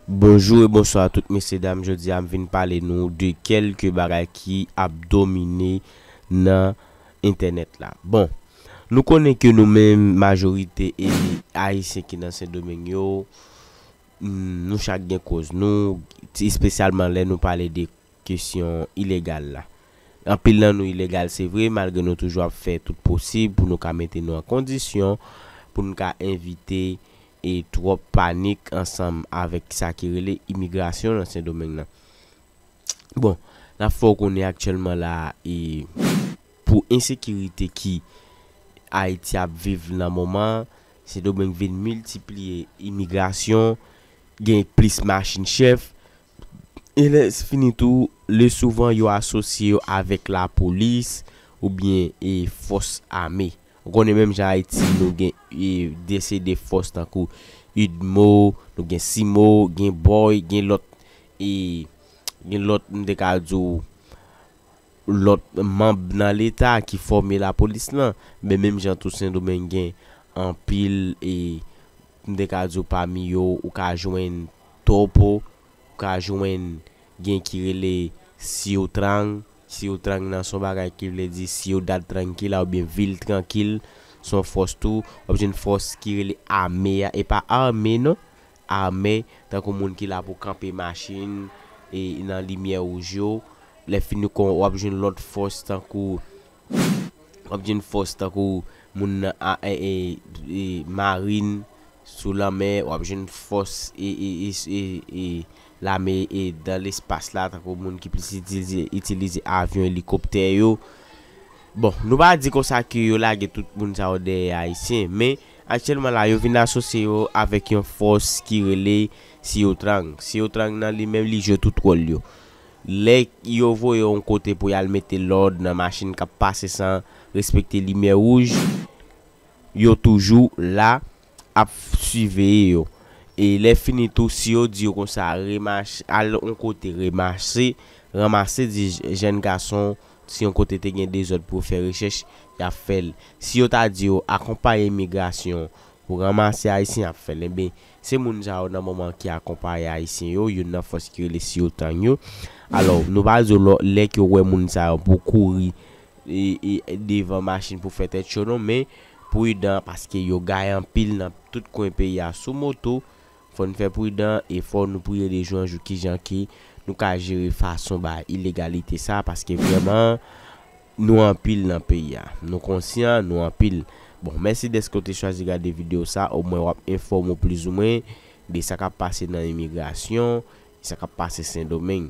Bonjou e bonswa tout mesye dam jodi a m vin pale nou de kelke bagay ki ap domine nan entènèt la bon nou konnen ke nou menm majorite e ayisyen ki nan sendomeng yo nou chak gen koz nou espesyalman lè nou pale de kesyon ilegal la anpil nan nou ilegal se vre malgre nou toujou ap fè tout posib pou nou ka mete nou an kondisyon pou nou ka envite e twòp panik ansanm avèk sa ki rele imigrasyon nan Sendomeng nan. Bon, n ap fè w konnen aktyèlman la a e pou ensekirite ki Ayiti ap viv nan moman an, Sendomeng vin miltipliye imigrasyon, gen plis machin chèf, e lèsfini tou, le souvan yo asosye yo avèk lapolis oubyen e fòs ame. Ou konnen menm jan Ayiti nou gen desede fòs tankou udmo, nou gen simo, gen boy, gen lòt e gen lòt m te ka di w lòt manb nan leta ki fòme lapolis lan. Men menm jan tou Sendomeng gen anpil e m te ka di w pami yo ou ka jwenn topo, ou ka jwenn gen ki rele siyotrang. Siw trang nan son bagay ki vle di ciudad tranquila oubyen vil trankil son fòs tou wap jwenn fòs ki rele ame a e pa arme non arme tankou moun ki la pou kanpe machin e nan limyè wouj yo lè fini kon wap jwenn lòt fòs tankou wap jwenn fòs tankou moun nan a e e marin sou lanmè wap jwenn fòs e e e e. Lame e dan lespas la tankou moun ki plis itilize itilize avyon elikoptè yo. Bon, nou pa di konsa ke yo lage tout moun sa yo dèyè Ayisyen, men aktyèlman la yo vin asosye yo avèk yon fòs ki rele Siyotrang. Siyotrang nan li menm li jwe tout wòl yo. Lè yo voye yon kote pou y al mete lòd nan machin k ap pase san respekte limyè wouj, yo toujou la. ap siveye yo e lè fini tou si yo di yo konsa remach al yon kote remase ranmase di jèn gason si yon kote te gen dezòd pou yo fè rechèch y ap fè l si yo ta di yo akonpaye imigrasyon pou ranmase ayisyen y ap fè l enben se moun sa yo nan moman ki akonpaye ayisyen yo youn nan fòs ki rele si yo tang yo alò nou pa di yo lò lè ke yo wè moun sa yo pou kouri e e devan machin pou fè tèt cho non men Pridan paske yo gaye anpil nan tout kwen peyi a sou moto, fò n fè pridan e fò nou priye de jou an jou kijan ke nou ka jere fason ba ilegalite sa paske vrèman nou anpil nan peyi a. Nou konsyan nou anpil. Bon, mèsi dèske w te chwazi gade videyo sa, omwen w ap enfòme w plizoumwen de sa k ap pase nan imigrasyon e sa k ap pase Sendomeng.